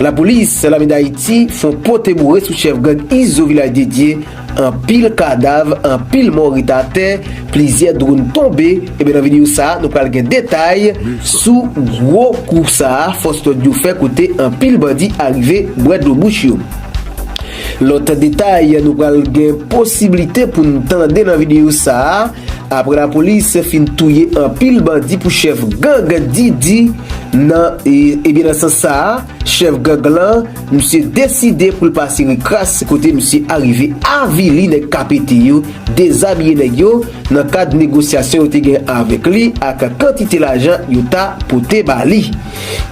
Lapolis lame Dayiti fon pote boure sou chèf gang Izo Vilaj Dedye, anpil kadav, anpil mò ret atè, plizyè dronn tonbe, ebyen nan videyo sa nou pral gen detay sou gwo kou sa fòs lòd yo fè kote anpil bandi arive bwè dlo bouch yo. Lòt detay nou pral gen posiblite pou n tande nan videyo sa a, aprè lapolis fin touye anpil bandi pou chèf gang Didi nan ebyen nan sans sa a chèf gang lan misye deside pou l pase rekras kote misye arive avili nèg KPT yo dezabiye nèg yo nan kad negosyasyon yo te gen avèk li ak kantite lajan yo ta pote ba li.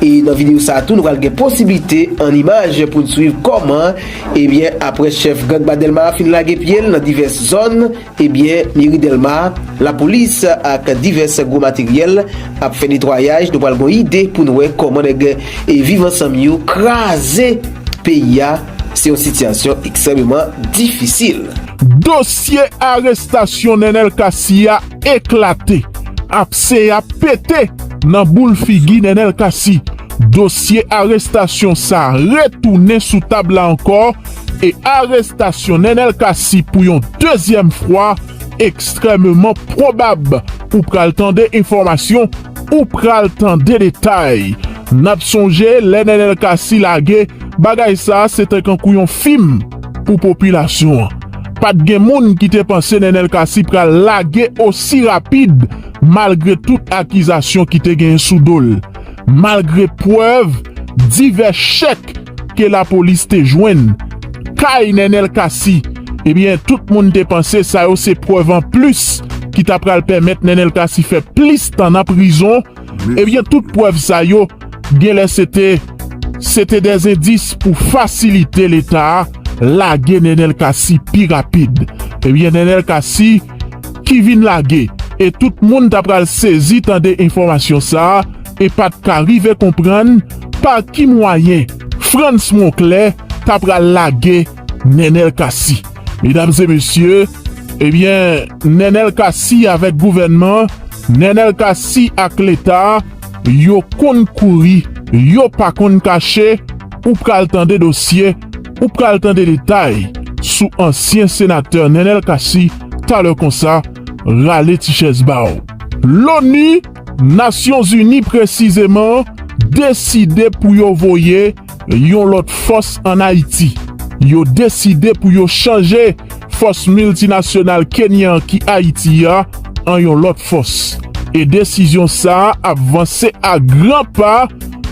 E nan video sa tou nou pral gen posiblite an imaj pou n swiv kòman ebyen aprè chèf gang ba Dèlma a fin lage pye l nan divès zòn ebyen meri Dèlma lapolis ak divès gwo materyèl ap fè netwayaj nou pral gon ide pou n wè kòman nèg viv ansanm yo kraze peyi a se yon sitiyasyon ekstrèmeman difisil. Dosye arestasyon Nenel Cassy a eklate, apse a pete nan boul figi Nenel Cassy. Dosye arestasyon sa retounen sou tab la ankò e arestasyon Nenel Cassy pou yon dezyèm fwa ekstrèmeman pwobab. Ou pral tande enfòmasyon, ou pral tande detay. N ap sonje lè Nenel Cassy lage bagay sa se te kankou yon fim. pou popilasyon an. Pat gen moun ki te panse Nenel Cassy pral lage osi rapid malgre tout akizasyon ki te genyen sou do l, malgre prèv divès chèk ke lapolis te jwenn kay Nenel Cassy, ebyen tout moun te panse sa yo se prèv anplis ki ta pral pèmèt Nenel Cassy fè plis tan nan prizon. Ebyen tout prèv sa yo genlè se te se te des endis pou fasilite leta a lage Nenel Cassy pi rapid. Ebyen Nenel Cassy ki vin lage e tout moun ta pral sezi tande enfòmasyon sa e pat ka rive konprann pa ki mwayen Frantz Monclair ta pral lage Nenel Cassy Medam e mesye ebyen Nenel Cassy avèk gouvènman Nenel Cassy ak leta yo konn kouri yo pa konn kache ou pral tande dosye ou pral tande detay sou ansyen senatè Nenel Cassy talè konsa rale ti chèz baw. Loni. Nasyonzini presizeman deside pou yo voye yon lòt fòs an Ayiti. Yo deside pou yo chanje fòs miltinasyonal Kenyan an ki Ayiti a an yon lòt fòs. E desizyon sa a ap vanse a gran pa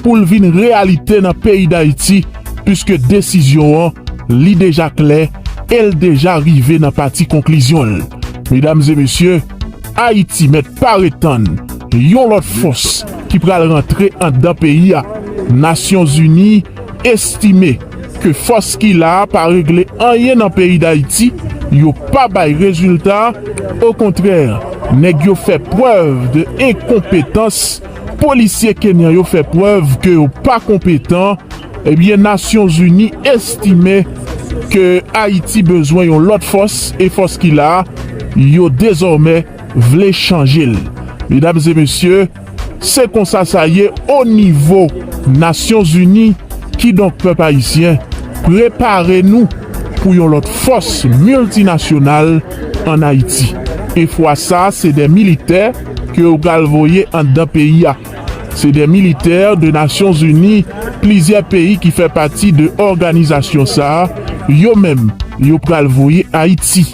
pou l vin reyalite nan peyi Dayiti puiske desizyon an li deja klè e l deja rive nan pati konklizyon l. Medam e mesye. Ayiti mèt pare tann yon lòt fòs ki pral rantre andan peyi a, Nasyonzini estime ke fòs ki la a pa regle anyen nan peyi Dayiti, yo pa bay rezilta, okontrè nèg yo fè prèv de enkonpetans, polisye kenyan yo fè prèv ke yo pa konpetan. Ebyen Nasyon Zini estime ke Ayiti bezwen yon lòt fòs e fòs ki la a yo dezòmè vle chanje l. Medam e mesye, se konsa sa ye o nivo Nasyon Zini, kidonk pèp ayisyen prepare nou pou yon lòt fòs miltinasyonal an Ayiti. E fwa sa se de militè ke yo pral voye anndan peyi a. Se de militè de Nasyon Zini, plizyè peyi ki fè pati de òganizasyon sa, yo menm yo pral voye Ayiti.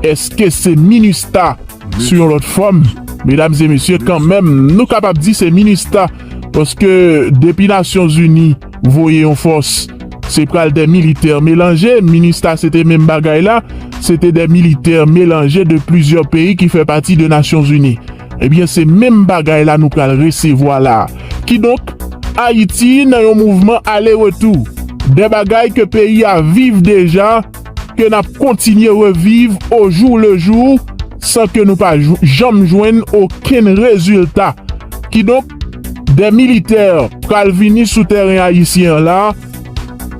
Eske se minustah sou yon lòt fòm? Medam e mesye kan menm nou kapab di se minustah paske depi Nasyon Zini voye yon fòs se pral de militè melanje, minustah se te menm bagay la, se te de militè melanje de plizyè peyi ki fè pati de Nasyon Zini. Ebyen se menm bagay la nou pral resevwa la. Kidonk, Ayiti nan yon mouvman ale retou. De bagay ke peyi a viv deja, ke n ap kontinye reviv o jou le jou, san ke nou pa janm jwenn okenn rezilta. Kidonk, de militè pral vini sou tèren ayisyen an la,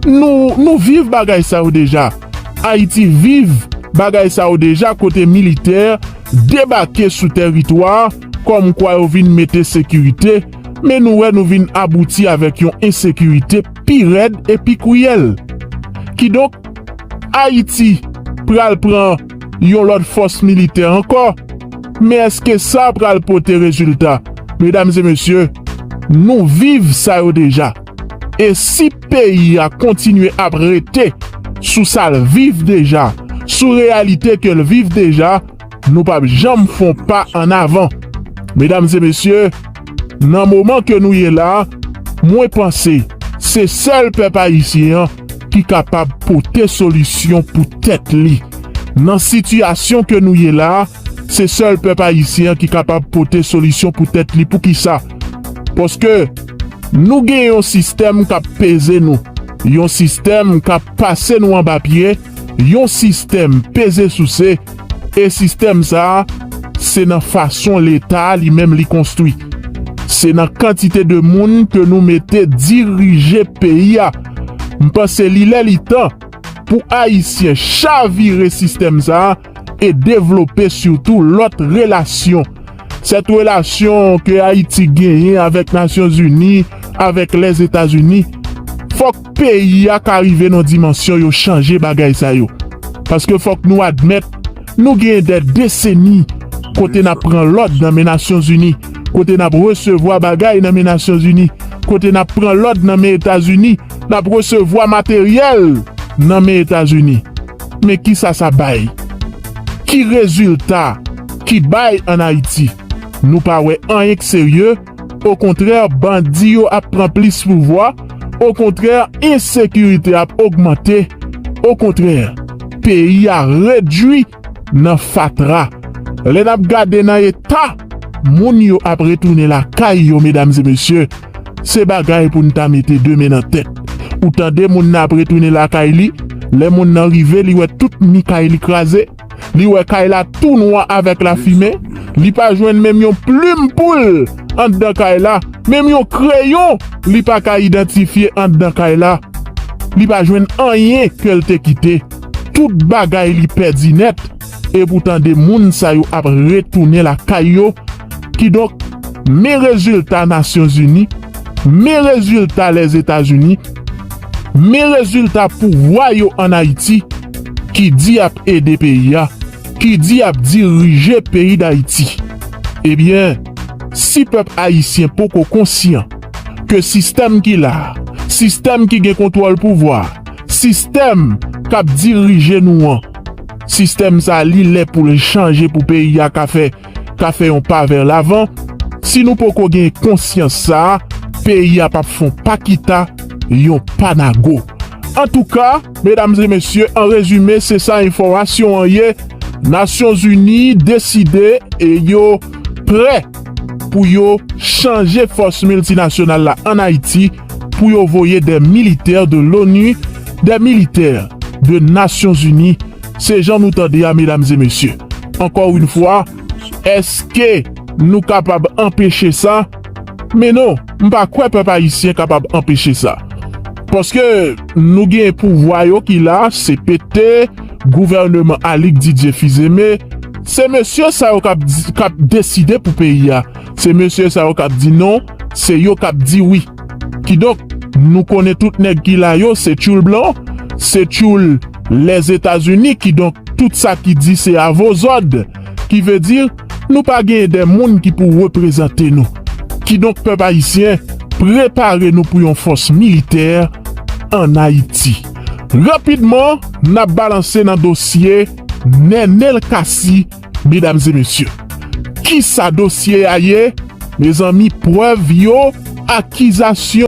nou, nou viv bagay sa yo deja. Ayiti viv bagay sa yo deja kote militè debake sou tèritwa a kòm kwa yo vin mete sekirite, men nou wè nou vin abouti avèk yon ensekirite pi rèd e pi kriyèl. Kidonk, Ayiti pral pran yon lòt fòs militè ankò, men èske sa pral pote rezilta? Medam e mesye, nou viv sa yo deja. E si peyi a kontinye ap rete sou sa l viv deja, sou reyalite ke l viv deja, nou p ap janm fon pa an avan. Medam e mesye, nan moman ke nou ye la, mwen panse se sèl pèp ayisyen an ki kapab pote solisyon pou tèt li. Nan sitiyasyon ke nou ye la, Se sèl pèp ayisyen an ki kapab pote solisyon pou tèt li poukisa? Paske nou gen yon sistèm kap peze nou, yon sistèm kap pase nou anba pye, yon sistèm peze souse e sistèm sa se nan fason leta li menm li konstwi, se nan kantite de moun ke nou mete dirije peyi a. M panse li lè li tan pou ayisyen chavire sistèm sa. e devlope sitou lòt relasyon. Sèt relasyon ke Ayiti genyen avèk Nasyonzini, avèk Lèzetazini, fòk peyi a ka rive nan dimansyon yo chanje bagay sa yo. Paske fòk nou admèt, nou gen dè deseni kote n ap pran lòd nan men Nasyonzini, kote n ap resevwa bagay nan men Nasyonzini, kote n ap pran lòd nan men Etazini, l ap resevwa materyèl nan men Etazini. Men ki sa sa bay? Ki rezilta ki bay an Ayiti? Nou pa wè anyen k serye, okontrè bandi yo ap pran plis pouvwa, okontrè ensekirite ap ogmante, okontrè peyi a redui nan fatra lè nap gade nan eta moun yo ap retounen lakay yo medam e mesye se bagay poun ta mete de men nan tèt ou tande moun nan ap retounen lakay li lè moun nan rive li wè tout mi kay li kraze li wè kay la tou nwa avèk lafimen li pa jwenn menm yon plim poul andan kay la menm yon kreyon li paka idantifye andan kay la li pa jwenn anyen kel te kite. Tout bagay li pèdi nèt e poutan 2 moun sa yo ap retounen lakay yo, kidonk men rezilta Nasyonzini, men rezilta Lèzetazini, men rezilta pouvwa yo an Ayiti ki di yap ede peyi a, ki di yap dirije peyi Dayiti. Ebyen, si pèp Ayisyen poko konsyan ke sistèm ki la, sistèm ki gen kontwòl pouvwa, Sistèm kap dirije nou an, sistèm sa li lè poul chanje pou peyi a ka fè ka fè yon pa vè lavan, si nou poko gen konsyans sa, peyi a pap fon pa kita, yon pa nago. Antouka, medam e mesye an rezime se sa enfòmasyon an ye, Nasyon Zini deside e yo prè. Pou yo chanje fòs miltinasyonal la an Ayiti, pou yo voye dè militè de l'ONU, dè militè de Nasyon Zini, se jan nou tande a medam e mesye. Ankò yn fwa, eske nou kapab anpeche sa? Men non, m pa kwè pèp ayisyen kapab anpeche sa. Paske nou gen pouvwa yo ki la, CPT, Gouvèneman Alig Didye Fizeme, se mesye sa yo k ap deside pou peyi a, se mesye sa yo k ap di non, se yo k ap di wi. Kidonk, nou konnen tout nèg ki la yo se tchoul blan, se tchoul Lèzetazini, kidonk tout sa ki di se avozòd, kivedi nou pa genyen de moun ki pou reprezante nou. Kidonk pèp ayisyen, prepare nou pou yon fòs militè an Ayiti. Rapidman nap balanse nan dosye Nenel Cassy medam e mesye. Kisa dosye a ye mezanmi prèv yo akizasyon.